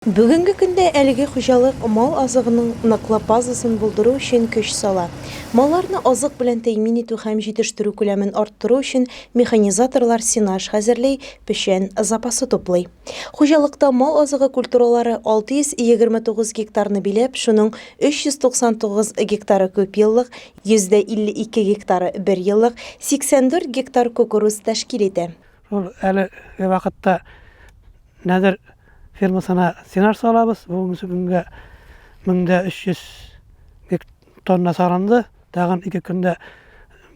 Бүгенге көндә әлеге хуҗалык мал азыгының ныклы базасын булдыру өчен көч сала. Малларны азык белән тәэмин итү һәм җитештерү күләмен арттыру өчен механизаторлар сенаж хәзерли, печән запасы туплый. Хуҗалыкта мал азыгы культуралары 629 гектарны биләп, шуның 399 гектары күпьеллык, 52 гектары берьеллык, 84 гектар кукуруз тәшкил итә. Ул әле вакытта нәдер фермасына сенар салабыз. Бүгенге көнгә 1300 тонна сарынды. Тагын ике көндә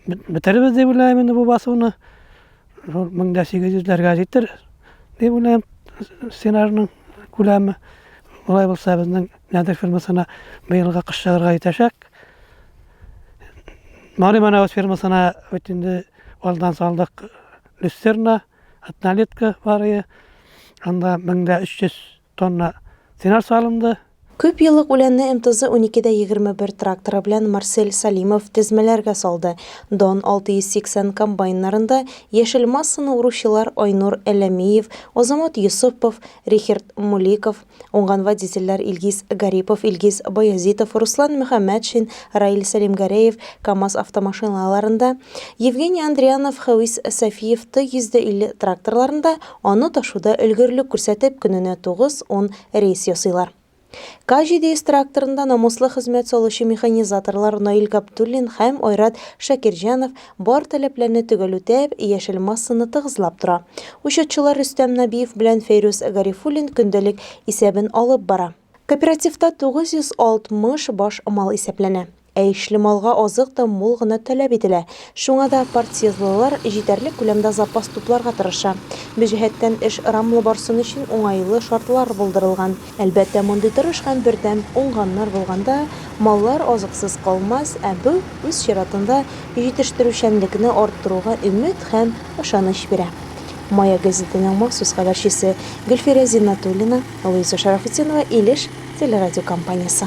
бетеребез дип уйлайм инде бу басуны. Шул 1800-ләргә җитер дип уйлайм сенарның күләме. Улай булса безнең нәдер фермасына быелга кыш чыгарга итәчәк. Мали Манаус фермасына бит инде Алдан салдык люстерна, однолетка барые. Анда 1300 тонна тенар салынды. Күп еллык үләнне МТЗ 12-дә 21 тракторы белән Марсель Салимов тезмәләргә салды. Дон 680 комбайннарында яшел массаны уручылар Айнур Әләмиев, Азамат Йосыпов, Рихерт Муликов, Уңган водительләр Илгиз Гарипов, Илгиз Баязитов, Руслан Мөхәммәтшин, Раил Сәлимгәрәев КАМАЗ автомашиналарында, Евгений Андрянов, Хәвис Сафиев Т-150 тракторларында аны ташуда өлгерлек күрсәтеп, көненә 9-10 рейс ясыйлар. К-700 тракторында намуслы хезмәт салучы механизаторлар Наил Габдуллин һәм Айрат Шакирҗанов Бар таләпләрне төгәл үтәп, яшел массаны тыгызлап тора. Учетчылар Рөстәм Набиев белән Фәйрүз Гарифуллин көндәлек исәбен алып бара. Кооперативта 960 баш мал исәпләнә. Ә ишле малга азык та мул гына таләп ителә. Шуңа да партсъездлылар җитәрлек күләмдә запас тупларга тырыша. Бу җәһәттән эш ырамлы барсын өчен уңайлы шартлар булдырылган. Әлбәттә, мондый тырыш һәм бердәм уңганнар булганда, маллар азыксыз калмас, ә бу, үз чиратында, җитештерүчәнлекне арттыруга өмет һәм ышаныч бирә. Мая гәзитенең махсус хәбәрчесе Гөлфирә Зиннәтуллина, Луиза Шәрәфетдинова, Илеш телерадиокомпаниясе.